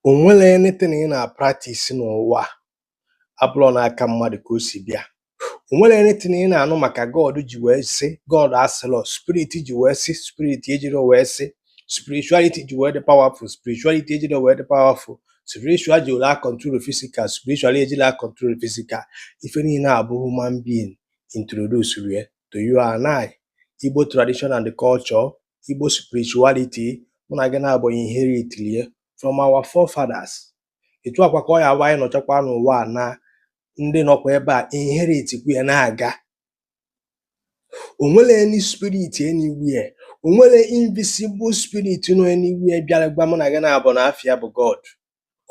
o nwere anything ị na-practice n'ụwa abụrọ n'aka mmadụ ka o si bịa o nwere anything ị na-anụ maka God ji wee sị God asịlọ spirit ji wee sị spirit ejiro wee sị spirituality ji wee dị powerful spirituality ejiro wee dị powerful spiritual ji were control physical spiritual ejiro control physical ife niile a bụ human being introduce rie to you and I Igbo tradition and culture Igbo spirituality mụ na gị naabọ inherit rie from our forefathers etu a kwa ka ọ ya-abụ anyị nọchakwa n'ụwa na ndị nọkwa ebe a inherit kwu ya na-aga onwere any spirit anywhere onwere invisible spirit nọ anywhere bịara gwa mụ na gị naabọ na afa ya bụ God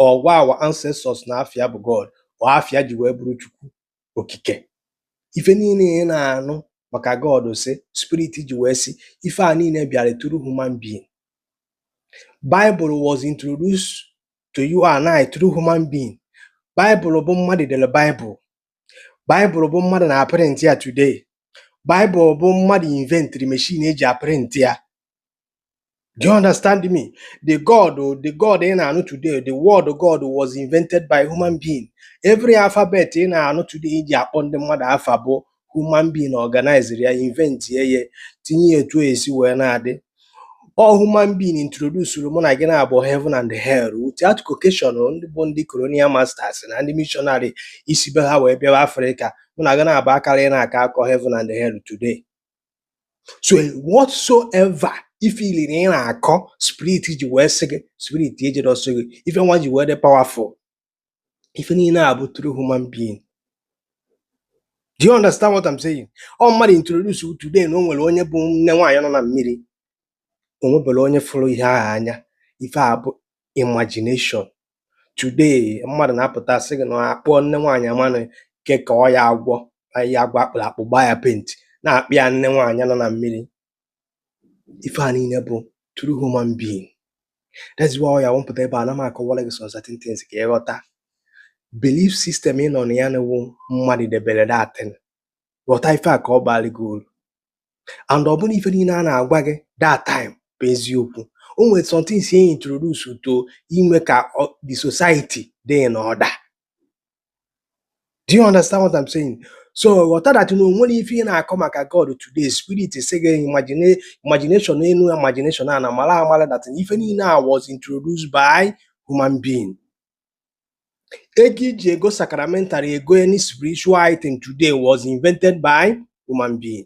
or gwa our ancestors na afa ya bụ God or afa ya ji wee bụrụ Chukwu okike ife niile ị na-anụ maka God sị spirit ji wee sị ife a niile bịara through human being Bible was introduced to you and I through human being Bible bụ mmadụ dere Bible Bible bụ mmadụ na-aprint ya today Bible bụ mmadụ inventri machine e ji aprint ya Do you understand me? The God, the God ị na-anụ today, the word God was invented by human being. Every alphabet ị na-anụ today e ji akpọ ndị mmadụ afa bụ human being organized ya, invent ya, ehe, tinye ya etu o esi wee na-adị. Ọ human being introduced mụ na gị naabọ heaven and hell without Caucasian, ndị bụ ndị colonial masters na ndị missionary isi be ha wee bịawa Afrịka mụ na gị naabọ akara ị na-aka akọ heaven and hell today. so whatsoever ife niile ị na-akọ spirit ji wee sị gị spirit ejiro sị gị ife nwa ji wee dị powerful ife niile a bụ through human being do you understand what I'm saying ọ mmadụ introduce today na o nwere onye bụ nne nwaanyị nọ na mmiri o nwebere onye fụrụ ihe ahụ anya ife a bụ imagination today mmadụ na-apụta sị gị na a kpụọ nne nwaanyị amanụ ke ka ọ ya agwọ anyị ya agwọ a kpụrụ akpụ gbaa ya paint na-akpọ ya nne nwaanyị nọ na mmiri ife a niile bụ through human being that's why ọ ya-awụ m pụta ebe a na m akọwara gị some certain things ka ị ghọta belief system ị nọ na ya na ọ wụ mmadụ debere that thing ghọta ife a ka ọ baara gị uru and ọ bụrọ ife niile a na-agwa gị that time bụ eziokwu o nwere some things e introduce to ime ka the society dị in order do you understand what I'm saying so ghọta that na onwere ife ị na-akọ maka God today spirit sị gị imagination enu imagination ana mara amara that ife niile a was introduced by human being ego e ji ego sacramental ego any spiritual item today was invented by human being